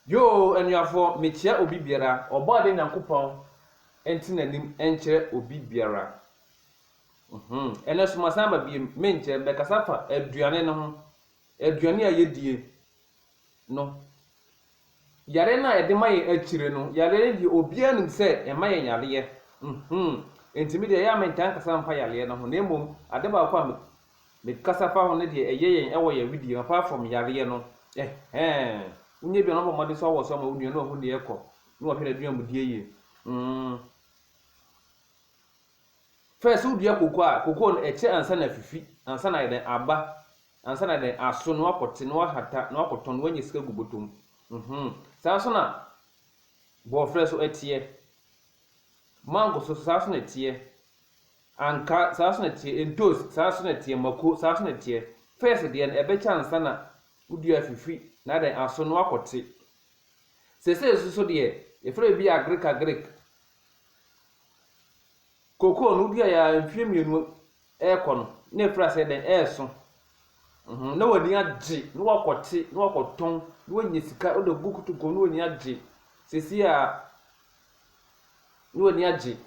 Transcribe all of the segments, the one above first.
Yoo anuafoɔ mekyia obi biara ɔbɔ adeɛ nyankopɔn nte nanim nkyerɛ obi biara uhmm ɛnɛ so masan aba biem menkyɛ mɛkasa afa aduane no ho aduane a yɛdie no yareɛ no a yɛde ma yɛn akyire no yareɛ no deɛ obiara nim sɛ ɛma yɛn yareɛ uhmm nti medeɛ ɛyɛ a mentaa nkasa mfa yareɛ no ho na mmom ade baako a Mekasa fa ho ne deɛ ɛyɛ yɛn ɛwɔ yɛn wedeɛ mu apart from yareɛ no ɛhɛɛn wonyɛ bi a na bɔ mmɔden sɛ wɔ so ama wo nua na wahu deɛ ɛkɔ na wahwɛ n'aduamudie yie mm first wodua koko a koko no ɛkyɛ ansa na afifi ansa na ayɛ dɛn aba ansa na ayɛ dɛn aso na wakɔte na wahata na wakɔtɔn na wanya sika gu bɔtɔ mu mhm saa nso na bɔɔfrɛ so ɛteɛ mango so so saa nso na ɛteɛ Anka saa nso na ɛteɛ, ntoosi, saa nso na ɛteɛ, mako, saa nso na ɛteɛ. First deɛ no, ɛbɛkyɛ ansa na wo dua afifiri na adɛn, aso na woakɔte. Seesei nso so deɛ, yɛfrɛ biribi agric agric. Cocoa no, woduaeɛ ara mfeɛ mmienu rekɔ no, na ɛfiri aseɛ dɛn, ɛreso. Mhm, na w'ani agye, na woakɔte, na woakɔtɔn, na woanya sika, wode agu kotokuom na w'ani agye. Seesei a, na w'ani agye.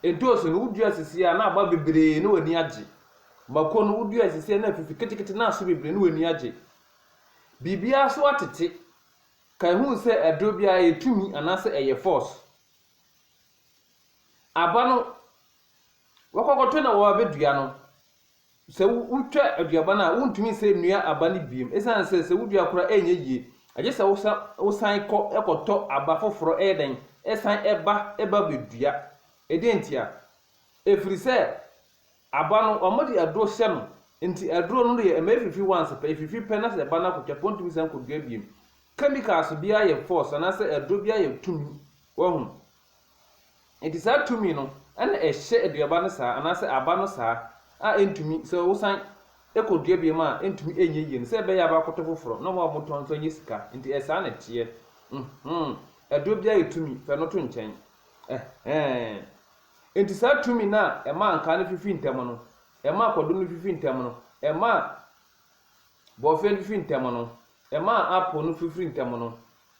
Edoosu no, wodua sisi a, na aba bebree, na w'ani agye. Mako no, wodua sisi a, na afifi ketekete, na aso bebree, na w'ani agye. Biribiara so atete. Kae hu sɛ aduro biara yɛ tumi anaasɛ ɛyɛ force. Aba no, wɔkɔkɔtɔ na wɔabɛdua no. Sɛ wotwa aduaba no a, wontumi nsan nnua aba no bio esiane sɛ sɛ wodua koro a ɛrenyɛ yie. Agye sɛ wosan kɔ kɔtɔ aba foforo yɛ dɛn san ba ba bedua. Ɛdeɛn ntia? Ɛfiri sɛ aba no wɔde aduro hyɛ no nti aduro no deɛ ɛma ɛfifi once pɛ, ɛfifi pɛ na sɛ ɛba no akɔtwa pɛ ɔntumi nsan kɔdua bio. Chemicals biara yɛ force anaasɛ aduro biara yɛ tumi. Wahu? Enti saa tumi no na ɛhyɛ aduaba no saa anaasɛ aba no saa a ɛntumi, sɛ wosan kɔdua biom a ɛntumi ɛnyɛ yie no, sɛ ɛbɛyɛ a bɛakɔtɔ foforɔ na wɔn a wɔtɔn nso anya sika, enti ɛyɛ saa na ɛteɛ. Mhmm, aduro biara yɛ tumi, fa ɛno to nkyɛn. Ɛhɛɛn. Enti saa tumi no a ɛmaa nkaa no fifi ntɛm no, ɛmaa kwadu no fifi ntɛm no, ɛmaa bɔɔfeɛ no fifi ntɛm no, ɛmaa apple no fifiri ntɛm no,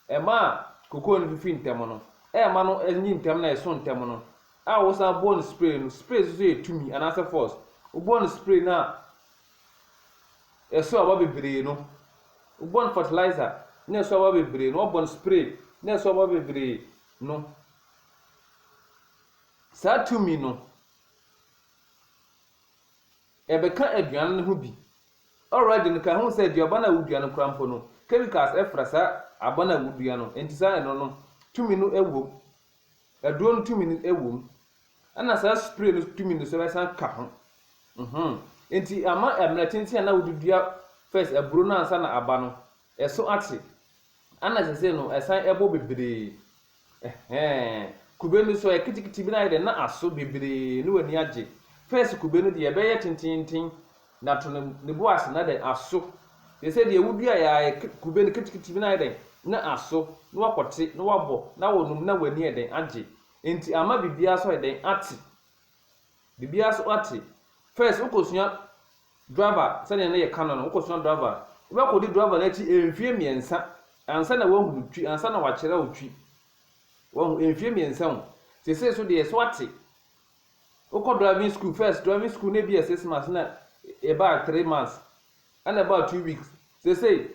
Ɛma a kokoo no fifi ntɛm no, ɛma no nyin ntɛm na ɛso ntɛm no, a wosan bɔ no spray no, spray nso yɛ tumi anaasɛ force, wobɔ no spray no a ɛso aba bebree no, wobɔ no fertilizer na ɛso aba bebree no, wɔbɔ no spray na ɛso aba bebree no, saa tumi no. Yɛbɛka aduan no ho bi. Already no kaho sɛ aduaba no a wodua no koraa mpo no chemicals fra saa aba no a wodua no nti saa ɛno no tumi no wom. Aduro no tumi no wom. Ɛna saa spray no tumi no so bɛsan ka ho. Mmhmm. Nti ama ɛmmerɛ tenten a na wode dua first aburo no ansa na aba no Ɛso akye. Ana sesei no ɛsan ɛbɔ bebree? Ɛhɛɛn. Kube no so ɛ ketekete bi no ayɛ dɛ na aso bebree na w'ani agye. First kube no deɛ ɛbɛyɛ tententen na to no ne bo ase na dɛn aso. Sesei deɛ wo duaeɛ ara ɛ kube no ketekete bi no ayɛ dɛn na aso na wakɔ te na wabɔ na wo nom na w'ani ɛ dɛn agye. Nti ama biribiara so ayɛ dɛn ate. Biribiara so ate. First wokosua driver sɛdeɛ ne yɛ ka no no wokosua driver wobɛkodi driver no akyi mfie mmiɛnsa ansa na wahunu twi ansa na wakyerɛ wo twi wahu mfie mmiɛnsa o sesei so deɛ so ate wokɔ driving school first driving school na ebi yɛ six months na ɛbaa three months ɛna ɛbaa two weeks sesei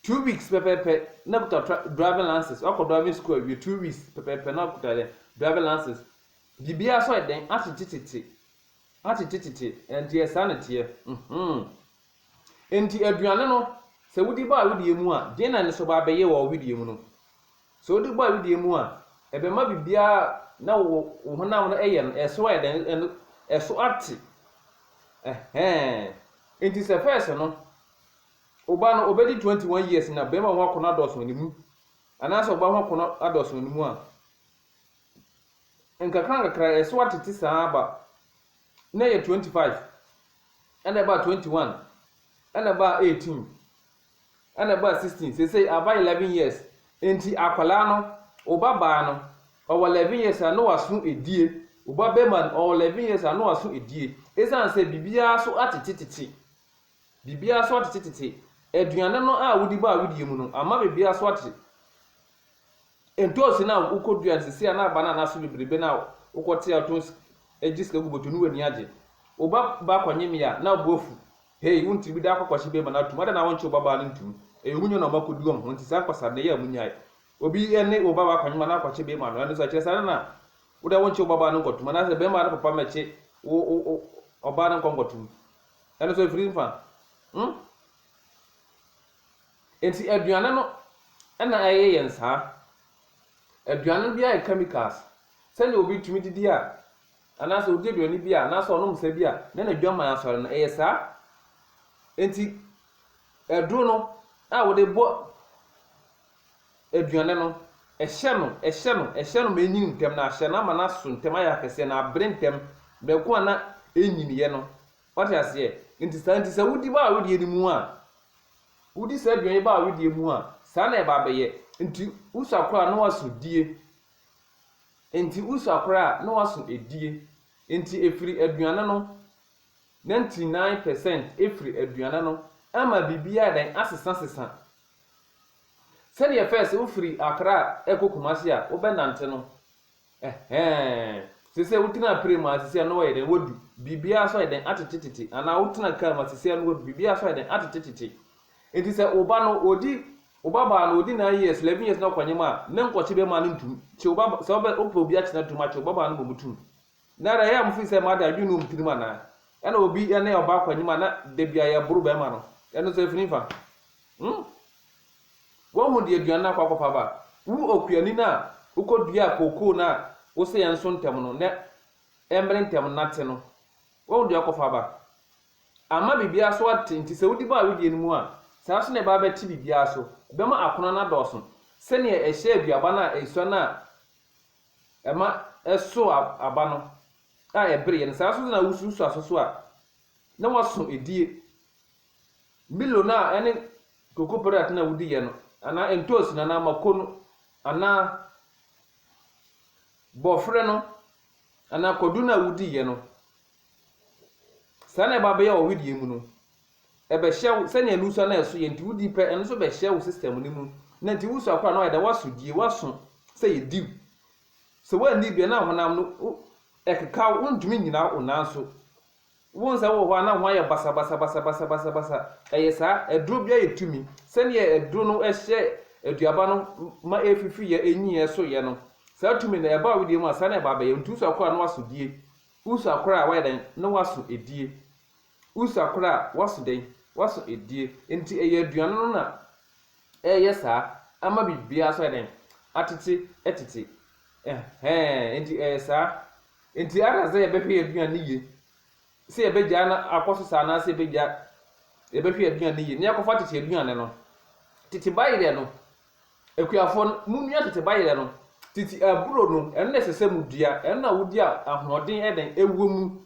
Two weeks pɛpɛɛpɛ na kuta tra driving license wakɔ driving school awie two weeks pɛpɛɛpɛ na kuta dɛn driving license biribiara so ayɛ dɛn atetetete atetetete ɛnti yɛ saa na teɛ mhm ɛnti aduane no sɛ wodi bɔ a wedeɛ mu a deɛ na ne so ba abɛyɛ wɔ wedeɛ mu no sɛ wodi bɔ a wedeɛ mu a ɛbɛma biribiara na wo wo honam no ɛyɛ no ɛso ayɛ dɛn ɛno ɛso ate ɛhɛn ɛnti sɛ fɛs no Oba no obedi twenty one years na bɛrima ho akɔnɔ adɔɔso wɔ ne mu anaasɛ ɔbaa ho akɔnɔ adɔɔso wɔ ne mu a, nkakrankakra ɛso atete saa ara ba. Nnɛ yɛ twenty five, ɛna ɛbaa twenty one, ɛna ɛbaa eighteen, ɛna ɛbaa sixteen, seesei aba eleven years. Enti akwadaa no, wo ba baa no, ɔwɔ eleven years a na waso adie, wo ba barima no, ɔwɔ eleven years a na waso adie, ɛsiane sɛ biribiara so atetetete. Biribiara so atete tete. Aduane no a wodi bɔ a wodie mu no ama biribiara so atete. Ntoosi no a wokɔdua no seesei a na aba no a na aso bebrebe no a wokɔte a wotɔn sik gye sika gu bɔtɔ no w'ani agye. Wo ba baa kɔnyem yɛ a na wo bo afu. Hei, wo ntiri bi da akɔkɔhye bɛɛma no atom, adɛn na wonkyee wo ba baa no ntom? Ɛyɛ wo nya na ɔma kɔdi wɔn ho nti saa nkwasade no yɛ a monnyae. Obi ne wo ba baa kɔnyem a na akɔkye bɛɛma no, ɛno nso ɛkyerɛ sɛ adɛn na wo deɛ wonkyee wo ba baa no nkɔtom anaasɛ bɛɛma no papa mmɛkye wo ɔbaa no nkɔ nkɔtom. Ɛno nso afiri mfa. Hmm? Enti aduane no na ɛyɛ yɛn saa. Aduane no bi ayɛ chemicals. Sɛnea obi tumi didi a, anaasɛ odi aduane bi a, anaasɛ ɔnom sɛ bi a, na n'adwaman asɔre no, ɛyɛ saa. Enti aduro no a wɔde bɔ aduane no, hyɛ no, hyɛ no, hyɛ no ma enyin ntɛm, na hyɛ no ama no aso ntɛm, ayɛ akɛseɛ, na abere ntɛm, mako a na ɛnnyiniiɛ no. Woate aseɛ? Enti saa nti, sɛ wodi baa wedeɛ no mu a, wodi saa aduane yi baa wedeɛ mu a, saa na ɛba abɛyɛ. Enti wosu akora a, na woaso die. Enti wosu akora a, na woaso die. Enti ɛfiri aduane no, 99 percent firi aduane no, ama biribiara ayɛ dɛn? Asesasesa. Sɛdeɛ ɛfɛ sɛ wofiri Accra rekɔ Kumasi a wobɛnante no ɛhɛɛn sesɛ wotenaa pire mu a sesɛ no wɔyɛ dɛn wadu biribiara so ayɛ dɛn atete tete anaa wotena car mu a sesɛ no wadu biribiara so ayɛ dɛn atete tete nti sɛ wo ba no ɔdi wo ba baa no ɔdi 9 years 11 years na ɔkɔnyem a ne nkɔkye bɛma no ntum kye wo ba sɛ wopɛ obi akyena tum akye wo ba baa no bɔ mu tum Nnɛ dɛ, yɛ a mufi sɛ mma de adwen no wom tirim anaa? Ɛna obi ne ɔbaa kɔ enyim a na da biara yɛboro bɛrima no, ɛno so efi nyimfa. Hmm. Wohu de aduan no akɔ akɔfa aba a, wo okuani no a wokoduaa kookoo no a wose yɛnso ntɛm no na ɛmmere ntɛm nnate no, wohu de ɔkɔfa aba. Amma biribiara so ate nti sɛ wodi bɔ a wodie no mu a, saa nso na ɛbɛba abɛte biribiara so, ɛbɛma akɔnnɔ no adɔɔso sɛnea ɛhyɛɛ aduaba no a esua no a Ɛma ɛsow aba no a ɛbereɛ no, saa ara nso na wususuw aso so a, na woaso edie. Milo no a ɛne cocoa product no a wodi yɛ no, anaa ntoosi no, anaa mako no, anaa bɔfrɛ no, anaa kwadu no a wodi yɛ no, saa na ɛba bɛyɛ wɔ wedeɛ mu no. Ɛbɛhyɛ wo sɛnea nusua no a ɛso yɛ nti wudi pɛ, ɛno nso bɛhyɛ wo system no mu, na nti wusua koraa no ayɛ dɛ woaso die, woaso sɛ yɛ diw. Sɛ woanni bia na honam no wo ɛkeka wo, wontumi nnyina wo nan so. Wo nsa wɔ hɔ a na ho ayɛ basabasabasabasabasa. Ɛyɛ saa, aduro biara yɛ tumi. Sɛnea aduro no hyɛ aduaba no ma ɛfifi yɛ, ɛnyin yɛ, ɛso yɛ no, saa tumi no ɛba wo deɛ mu a saa na ɛba abɛyɛ wo, nti wosua koraa no woaso die, wosua koraa a woayɛ dɛn, na woaso die. Usa koraa waso dɛn? Waso adie. Enti ɛyɛ aduane no na ɛreyɛ saa ama biribiara nso ayɛ dɛn? Atete tete. Ɛhɛɛ, enti ɛyɛ saa. Enti either sɛ yɛbɛhwɛ yɛn aduane no yie, sɛ yɛbɛgyaa no akɔ so saa anaasɛ yɛbɛgya, yɛbɛhwɛ yɛn aduane no yie. Na yɛakɔfa tete aduane no. Tete bayerɛ no, akuafoɔ no, monua tete bayerɛ no. Tete aburo no, ɛno na ɛsɛ sɛ modua. Ɛno na wodi a ahoɔden yɛ dɛn? Ɛwɔ mu.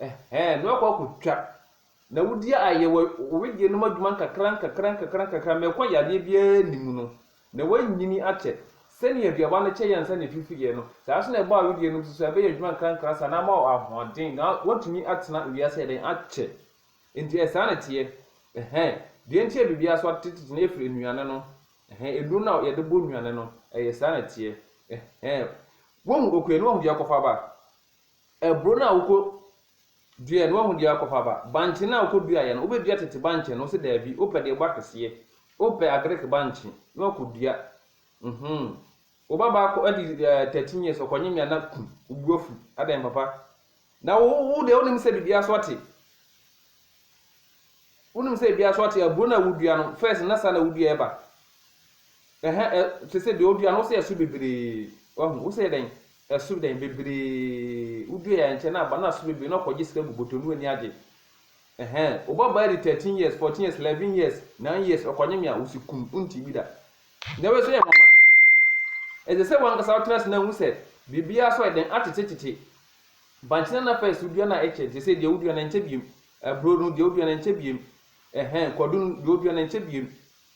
Ɛhɛɛ, na wakɔ akɔtwa. Na wodi a ayɛ wɔ wo wedeɛ nom adwuma nkakra nkakra nkakra nkakra ma ɛkɔ yadeɛ biara nni mu no, na woanyini akyɛ. Sɛdeɛ aduaba no kyɛ yɛ ansa na ɛfifiiɛ no, saa ara nso na ɛbɔ a wedeɛ nom so so a ɛbɛyɛ adwuma nkrankra saa na ama wo ahoɔden na woatumi atena wiase ayɛ dɛn? Akyɛ. Enti ɛyɛ saa na ɛteɛ. Ɛhɛɛ, deɛ nti a biribiara so atetete no ɛfiri nnuane no. Ɛhɛɛ, aduro no a yɛde bɔ nnuane no, ɛyɛ saa na ɛteɛ. Ɛhɛɛ, woahu okuayɛ no woahu deɛ akɔfa aba? Aburo no a wokɔ duaɛ no wahu deɛ wakɔ fa aba? Bankye no a wokɔ duaɛ no wobɛ dua tete bankye no? Ɔse daabi, wopɛ deɛ ɛbɔ akeseɛ, wopɛ agric bankye na wakɔ dua, mhmm wo ba baa kɔ adi eh 13 years ɔkɔ nye mea na kum, wo bu afu, adɛn papa? Na wo wo deɛ wonim sɛ biribiara so ate? Wonim sɛ ebia so ɔte aburo no a wodua no first na saa na wodua ɛba ɛhɛ ɛ te sɛ deɛ wodua no wosɛ ɛso bebree wahu wosɛ dɛn ɛso dɛn bebree wodua yɛ nkyɛ na aba na so bebree na ɔkɔgye sika gu bɔtɔ no w'ani agye ɛhɛ wobɔ baa di thirteen years fourteen years eleven years nine years ɔkɔnye mea wosi kum wonti bi da na wei so yɛ nwanwa ɛsɛ sɛ wankasa wotena ase na hu sɛ biribiara so ɛdɛn atetetete bankyena na first wodua no a ɛkyɛ te sɛ deɛ wodua no ɛnkyɛ biem Aburo no, deɛ wodua no ɛnkyɛ biem, ɛhɛn, kwadu no, deɛ wodua no ɛnkyɛ biem,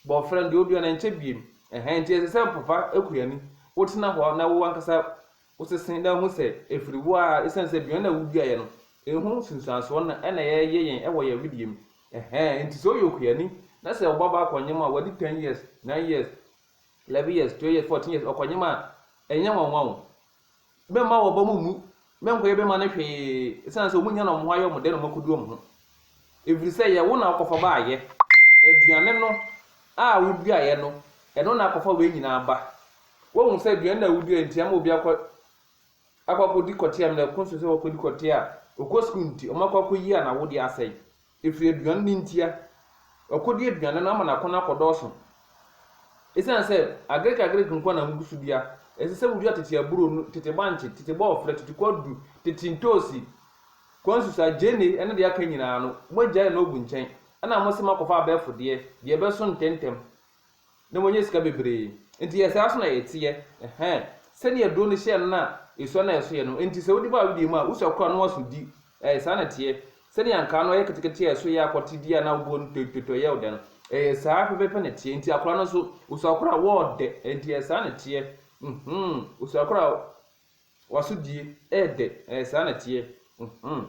bɔɔfrɛ no, deɛ wodua no ɛnkyɛ biem, ɛhɛn, nti ɛsɛ sɛ mpafa kura ani, wotena hɔ na wo ankasa wosese na wohu sɛ ɛfiri wo ara ɛsiane sɛ aduane no a woduaeɛ no, ɛho nsunsuansoɔ no na ɛna ɛyɛ yɛn wɔ yɛn wedeɛ mu, ɛhɛn, nti sɛ woyɛ okuani na sɛ wo ba baa kɔnyem a wadi ten years, nine years, eleven years, twelve years, fourteen years, ɔkɔnyem a, ɛnyɛ nwanwa o. Mɛmma wɔn ba mu mmu, mɛnkɔyɛ bɛmma no hwee, esiane sɛ wɔnnya na wɔn ho ayɛ wɔn dɛ na wɔakodu wɔn ho. Ɛfiri sɛ ɛyɛ wo na wokɔfa baeɛ, aduane no a woduaeɛ no, ɛno na akɔfa wei nyinaa aba. Woahu sɛ aduane no a woduaeɛ nti ama obi akɔ akɔ akɔdi kɔteam na ɛkɔ nso sɛ wɔkɔdi kɔtea a, ɔkɔ sukuu nti wɔakɔ akɔyi a na wo deɛ asɛe. Ɛfiri aduane no ntia. Ɔkɔdi aduane no ama n'akɔnnɔ akɔdɔɔso. Ɛsiane sɛ Agiriki Agiriki nko ara na wogu so dua, ɛsɛ sɛ wodua tete aburo, tete bankye, tete bɔɔfrɛ, tete kwadu, tete ntoosi, kwansusa, gyeene, ne deɛ aka nyinaa no, moagyae no ogu nkyɛn, ɛnna mose moakɔfa abɛɛfo deɛ, deɛ ɛbɛso ntɛmntɛm, na wɔanya sika bebree. Enti ɛyɛ saa nso na ɛteɛ. Ɛhɛn. Sɛnea duro no hyɛɛ no na esua na ɛso yɛ no, enti sɛ wode ba wedeɛ mu a, wosua kora na woaso di. Ɛyɛ saa na ɛteɛ. Sɛnea nkaa no ɛyɛ ketekete a ɛso yɛ akɔte di a na woboɔ no tɔitɔitɔi yɛ wo dɛ no, ɛyɛ saa pɛpɛɛpɛ na ɛteɛ. Enti akora no nso, osua kora a, wɔɔdɛ. Enti ɛyɛ saa na ɛteɛ. Mhmm. Osua kora a, waso die, ɛɛdɛ. Ɛyɛ saa na ɛteɛ. Mhmm.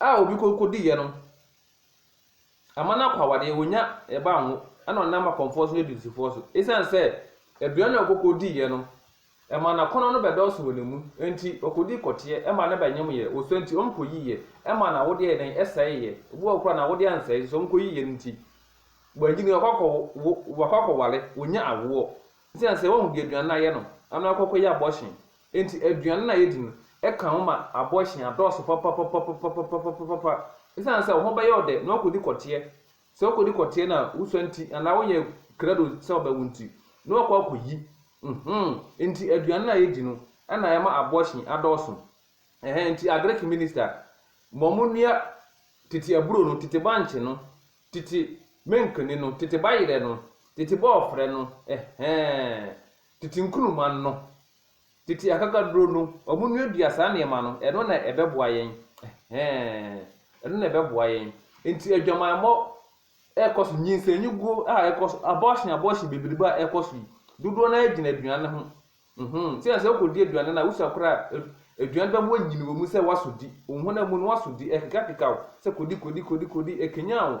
a obi kɔ kɔdiiɛ no ama no akɔ awadeɛ, ɔnya ɛba anwo ɛna ɔnam akɔmfoɔ so ne adusifoɔ so. Ɛsiane sɛ aduane na ɔkɔ kɔdiiɛ no, ɛma n'akɔnnɔ no bɛdɔɔso wɔ ne mu, enti ɔkɔdii kɔteɛ, ɛma no bɛnwomyɛ, wɔ so nti wɔn kɔyiiɛ, ɛma n'awodeɛ yɛɛ dɛn? Ɛsɛeeɛ. Obi wɔ hɔ koraa a n'awodeɛ ansɛe nso wɔn kɔyiiɛ no nti, wannyi no, wakɔ akɔwo, wakɔ akɔware, ɔnya awoɔ. Ɛsiane sɛ, wahu deɛ aduane no ayɛ no, ɛna wakɔ akɔyɛ abɔhyen, Enti aduane no a yedi no ka wo ma abɔhyen adɔɔso papapapapapapapapa. Esiane sɛ wo ho bɛyɛ wo dɛ na woakodi kɔteɛ, sɛ wokodi kɔteɛ na wusua nti anaa woyɛ krado sɛ wobɛwo nti na woakɔ akɔyi. Mhmm, enti aduane no a yedi no na ɛma abɔhyen adɔɔso. Ɛhɛɛ, enti Agric minista ma wɔnnua tete aburo no, tete bankye no, tete menkene no, tete bayerɛ no, tete bɔɔfrɛ no, ɛhɛɛ, Tete nkuruma no, tete akakaduro no, wɔnnuadua saa nneɛma no, ɛno na ɛbɛboa yɛn. Ɛhɛɛ. Ɛno na ɛbɛboa yɛn. Nti adwamammɔ ɛrekɔ so, nyinsɛnnyiguo a ɛrekɔ so, abortion abortion bebrebe a ɛrekɔ so yi, dodoɔ no ara gyina aduane ho. Nhoo, nti sɛ wokɔdi aduane no a, wosua koraa a, aduane no bɛma woanyini wɔ mu sɛ woasɔ di. Wo honam mu no woasɔ di, ɛrekekakeka wo sɛ kɔdi kɔdi kɔdi kɔdi, ɛkanyan wo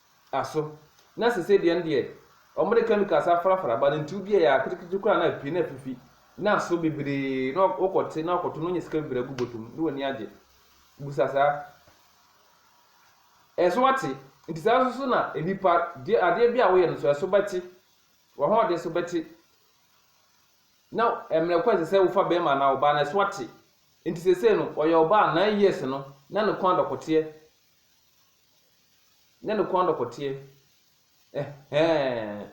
aso. Na sesei deɛ no deɛ wɔde chemicals afrafra but ntuo bi a ɛyɛ aketekete koraa na apue na afifi na aso bebree na wokɔte na wokɔto na wonya sika bebree agu bɔtɔ mu na w'ani agye. Busa saa. Ɛso ate. Nti saa nso so na nnipa deɛ adeɛ bi a woyɛ no so ɛso bɛte. W'ahoɔden so bɛte. Na mmerɛ kɔ ɛsɛ sɛ wofa bɛrima anaa ɔbaa no ɛso ate. Nti sesei no ɔyɛ ɔbaa nine years no na ne kɔn adɔkoteɛ. Nyɛ no kɔn dɔkɔteɛ ɛhɛɛn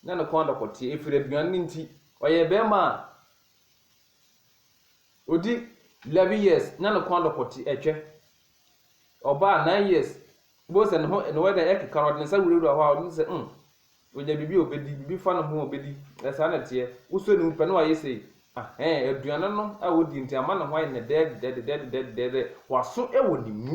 Nyɛ no kɔn dɔkɔteɛ ɛfiri aduane no nti Ɔyɛ bɛɛma a ɔdi 11 years Nyɛ no kɔn dɔkɔteɛ ɛtwɛ Ɔbaa 9 years Wobɛhu sɛ ne ho ne wɛda ɛkeka no ɔde ne nsa wurawura hɔ a ɔde sɛ mm Ɔnya biribi a ɔbɛdi biribi fa ne ho a ɔbɛdi Ɛsaa na ɛteɛ Wosɔ ne mu pɛ na wayɛ sei Ahɛɛn aduane no a ɔdi nti ama ne ho ayɛ ne dɛdɛdɛdɛdɛdɛdɛdɛ Waso ɛwɔ ne mu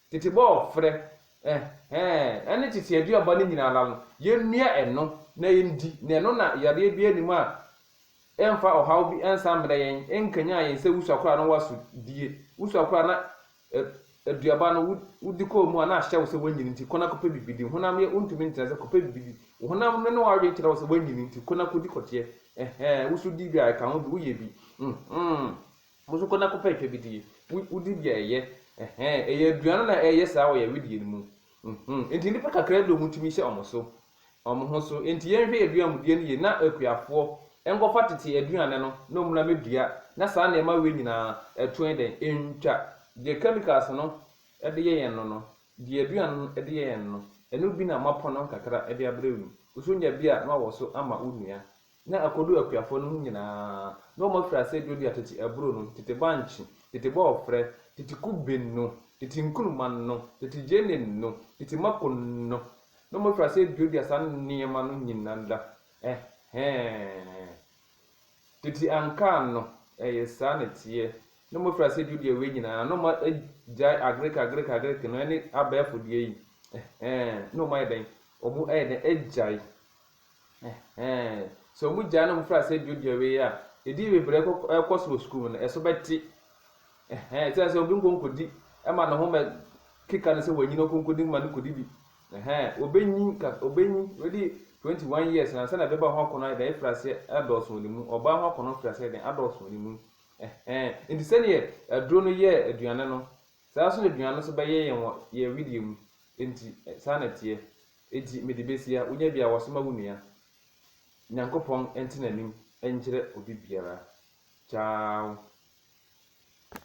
Tete bɔɔfrɛ, ɛhɛɛ, ɛne tete aduaba no nyina ara no, yɛnnua ɛno na yɛndi, na ɛno na yareɛ biara nni mu a ɛmfa ɔhaw bi nsan mmrɛ yɛn, ɛnkanyan yɛn sɛ wusuakorɔ a na woaso die, wusuakorɔ a na aduaba no wodi kɔɔ mu a na ahyɛ wo sɛ woanyini nti, kɔ na kɔpɛ biribi di, honam yɛ wontumi ntena ase, kɔpɛ biribi di, wo honam no ne w'adwene kyerɛ wo sɛ woanyini nti, kɔ na kɔdi kɔteɛ, ɛhɛɛ, wosodie bi a, ɛka ho bi, woyɛ bi, mm-hmm. Mo nso kɔ na kɔpɛ twa bi die. Wo di bi a ɛyɛ. Ɛhɛɛ, ɛyɛ aduan no na ɛyɛ saa wɔ yɛn wedeɛ no mu. Mhmm, enti nnipa kakraa bi a wɔtumi hyɛ wɔn so. Wɔn ho so. Enti yɛnhwɛ yɛn aduanmudie no yie na akuafoɔ nkɔfa tete aduane no na wɔmmra mmɛdua na saa nneɛma wei nyinaa ɛto yɛn dɛn? Ɛntwa. Deɛ chemicals no de yɛ yɛn no no, deɛ aduane no de yɛ yɛn no, ɛno bi na moapɔn no nkakra de abrɛ wo yi. Wo nso nya bi a na wawɔ so ama wo nua. na akodu akuafoɔ no ho nyina ara, na wɔn afiri aseɛ duadua tete aburo no, tete bankye, tete bɔɔfrɛ, tete kube no, tete nkruma no, tete gyeene no, tete mako no, na wɔn afiri aseɛ duadua saa nneɛma no nyina ara, ɛhɛɛ, tete ankaa no, ɛyɛ saa na ɛteɛ, na wɔn afiri aseɛ duadua wei nyina ara, na wɔn agyae agreke agreke agreke no, ɛne abɛɛfo deɛ yi, ɛhɛɛ, na wɔn ayɛ dɛn, wɔn ayɛ dɛn agyae, Ɛhɛɛ. Sɛ ɔmo gyaa na ɔmo firi aseɛ duadua wei a, ɛdi bebree kɔ ɛkɔ so wɔ sukuu mu no, ɛso bɛte. Ɛhɛɛ, ɛte sɛ sɛ obi nkɔ nkɔdi ɛma ne ho mɛ keka no sɛ wanyini ɔkɔ nkɔdi ma no kɔdi bi. Ɛhɛɛ, ɔbɛnyin ka ɔbɛnyin, wadi 21 years no ansa na bɛɛba ho akɔnɔ ayɛ dɛn afiri aseɛ adɔɔso wɔ ne mu, ɔbaa ho akɔnɔ firi aseɛ ayɛ dɛn adɔɔso wɔ ne mu. Ɛhɛɛ, nti sɛdeɛ aduro no yɛɛ aduane no, saa ara nso na aduane no nso bɛyɛ yɛn wɔ yɛn wedeɛ mu. Nti, saa na ɛteɛ. Enti mede besi a wonya bi a wɔsoma wo nua. Nyankopɔn ntena anim nkyerɛ obi biara. Ciao.